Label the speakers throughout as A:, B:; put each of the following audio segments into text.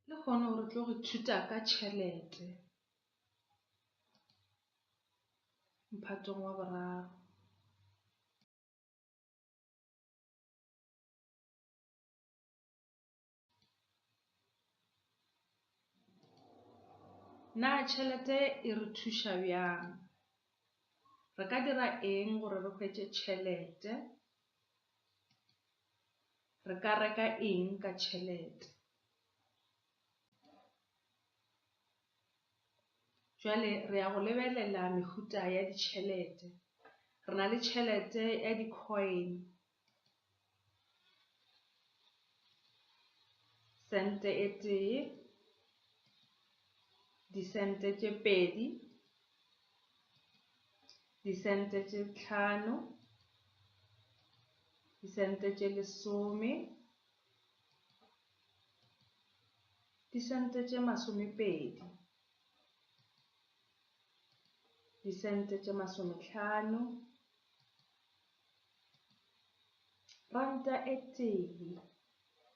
A: Le kgone gore tlo go thuta ka tšhelete mphatong wa boraro. Na tšhelete e re thuša bjang? Re ka dira eng gore re hwetše tšhelete? Re ka reka eng ka tšhelete? Jwale re ya go lebelela mehuta ya ditšhelete. Re na le tšhelete ya di-coin, sente e tee, disente tše pedi, disente tše tlhano, Disente tše lesome. Disente tše masomepedi. Disente tše masometlhano. Ranta e tee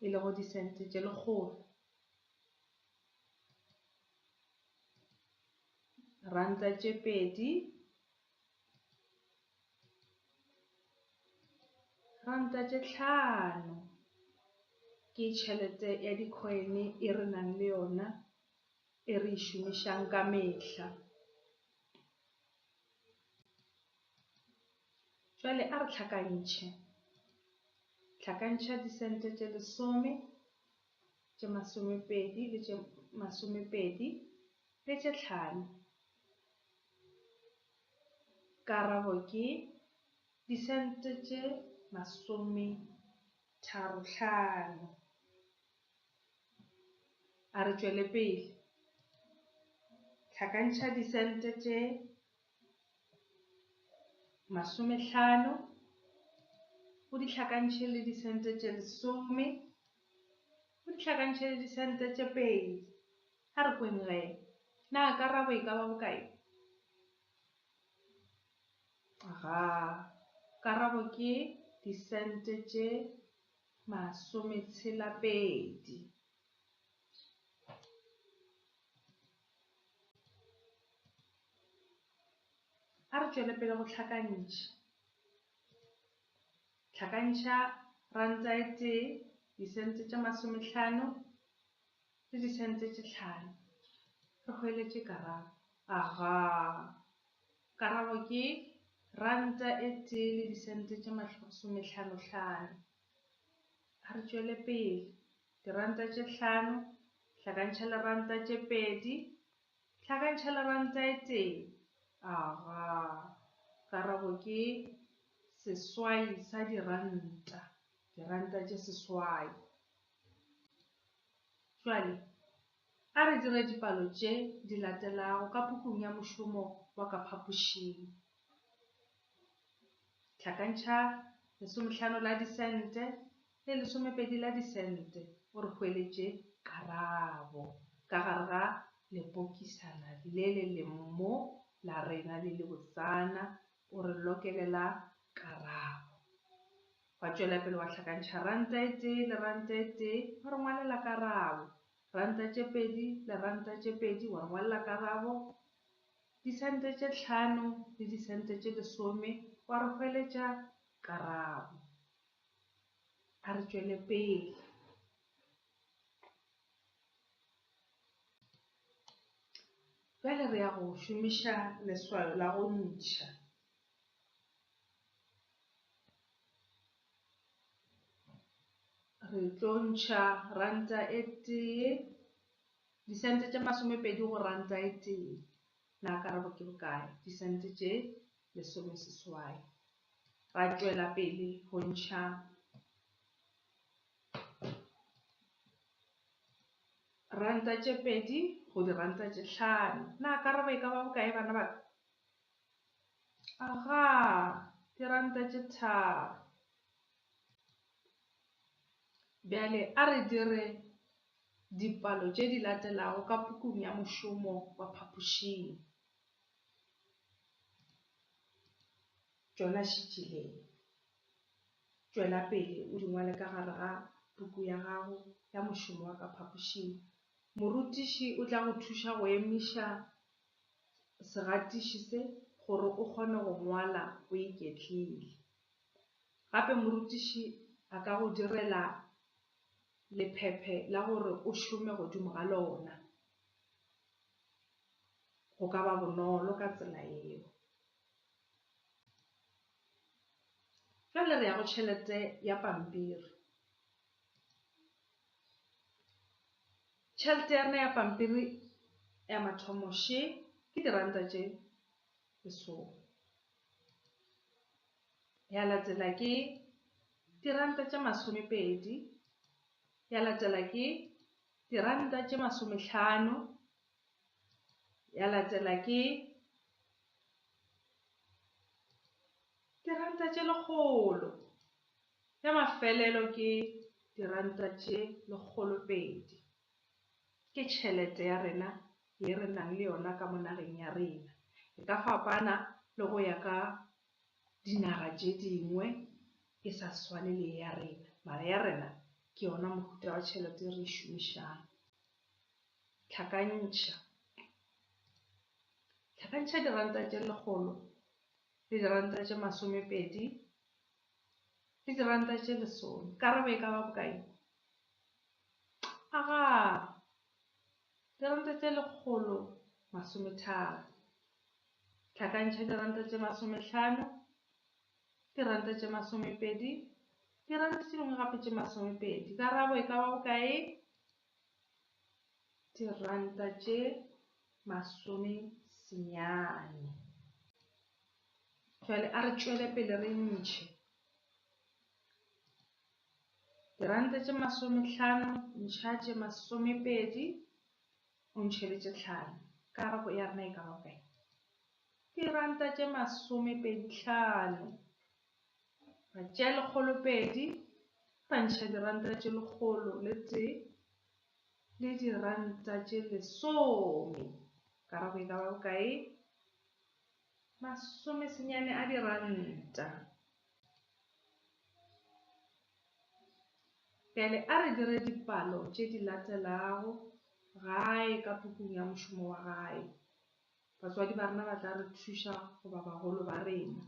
A: e lego disente tše lekgolo. Ranta tše pedi Ranta tše tlhano ke tšhelete ya di-coin e re nang le yona e re e šomišang ka mehla. Jwale a re tlhakantšhe, tlhakantšha di-cent tše lesome, tše masomepedi le tše masomepedi le tše tlhano. Karabo ke, Disente tše masometharo-hlano. A re tšwele pele. Hlakantšha disente tše masomehlano o di hlakantšhe le disente tše lesome, o di hlakantšhe le disente tše pedi. A re kweng ge. Na karabo e ka ba bokae? Ga. Karabo ke disente tše masometshela-pedi. A re tšwele pele go hlakantšha. Hlakantšha ranta e tee, disente tše masomehlano, le disane tše tše hlano. Re hweletše karabo. Aga! Karabo ke ranta e tee le disente tše masomehlanohlano. A re tšwele pele. Diranta tše hlano hlakantšha le ranta tše pedi hlakantšha le ranta e tee. Aga! Karabo ke seswai sa diranta, diranta tše seswai. Bjale, a re dire dipalo tše di latelago ka pukung ya mošomo wa ka phapošing. Hlakantšha lesomehlano la disente le lesomepedi la disente o re hweletše karabo ka gare ga lepokisana le le lemmo la rena le lebotsana, o re lokele la karabo. Wa tšwela pele wa hlakantšha ranta e tee le ranta e tee, wa re ngwalela karabo. Ranta tše pedi le ranta tše pedi, wa re ngwalela karabo. Disente tše tlhano le disente tše lesome, wa re hweletša karabo. A re tšwele pele. Bjale re ya go šomiša leswao la go ntšha. Re tlo ntšha ranta e tee, disente tše masomepedi go ranta e tee. Na karabo ke bokae? Disente tše lesomeseswai. Ra tšwela pele go ntšha ranta tše pedi go diranta tše hlano. Na karabo e ka ba bokae, bana ba ka? Agaa, diranta tše tharo. Bjale a re dire dipalo tše di latelago ka pukung ya mošomo wa phapošing. Tšona šitšileng. Tšwela pele o di ngwale ka gare ga puku ya gago ya mošomo wa ka phapošing. Morutiši o tla go thuša go emiša segatiši se gore o kgone go ngwala o iketlile. Gape morutiši a ka go direla lephephe la gore o šome godimo ga lona. Go ka ba bonolo ka tsela yeo. Bjale re ya go tšhelete ya pampiri. Tšhelete ya rena ya pampiri ya mathomo še ke diranta tše lesome. Ya latela ke diranta tše masomepedi, ya latela ke diranta tše masomehlano, ya latela ke Diranta tše lekgolo. Ya mafelelo ke diranta tše lekgolopedi. Ke tšhelete ya rena ye re nang le yona ka mo nageng ya rena. E ka fapana le go ya ka dinaga tše dingwe e sa swane le ye ya rena, mara ya rena ke yona mohuta wa tšhelete e re e šomišang. Tlhakantšha. Tlhakantšha diranta tše lekgolo. Le diranta tše masomepedi le diranta tše lesome. Karabo e ka ba bokae? Aga, diranta tše lekgolo masometharo. Tlhakantšha diranta tše masomehlano, diranta tše masomepedi, diranta tše dingwe gape tše masomepedi. Karabo e ka ba bokae? diranta tše masome senyane. Jwale a re tšwele pele re ntšhe. Diranta tše masomehlano, ntšha tše masomepedi, o ntšhe le tše tlhano. Karabo ya rena e ka ba bokae? Diranta tše masomepedi hlano. Ba tšea lekgolo pedi, ba ntšha diranta tše lekgolo le tee le diranta tše lesome. Karabo e ka ba bokae? Masome senyane a diranta. Bjale a re dire dipalo tše di latelago, gae ka pukung ya mošomo wa gae. Batswadi ba rena ba tla re thuša goba bagolo ba rena.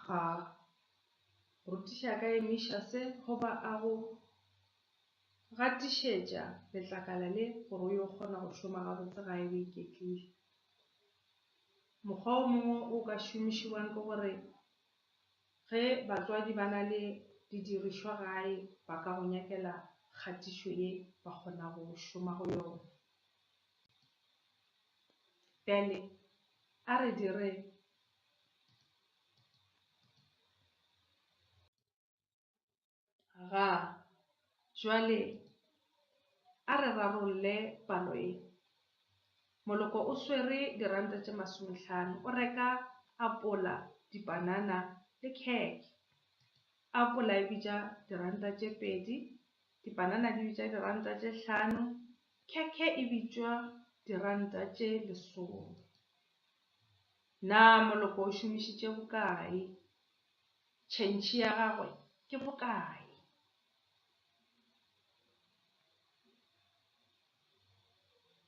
A: Ga rutiša ka emiša se goba a go gatišetša letlakala le gore o yo kgona go šoma gabotse gae o iketlile. Mokgwa o mongwe o ka šomišiwang ke gore Ge batswadi ba na le didirišwa gae ba ka go nyakela kgatišo ye ba kgona go šoma go yona. Bjale a re dire. Ga. Jwale a re rarolle palo ye. Moloko o swere diranta tše masomehlano, o reka apola, dipanana le khekhe. Apola e bitša diranta tše pedi, dipanana di bitša diranta tše hlano, khekhe e bitšwa diranta tše lesome. Na Moloko o šomišitše bokae? Tšhentšhi ya gagwe ke bokae?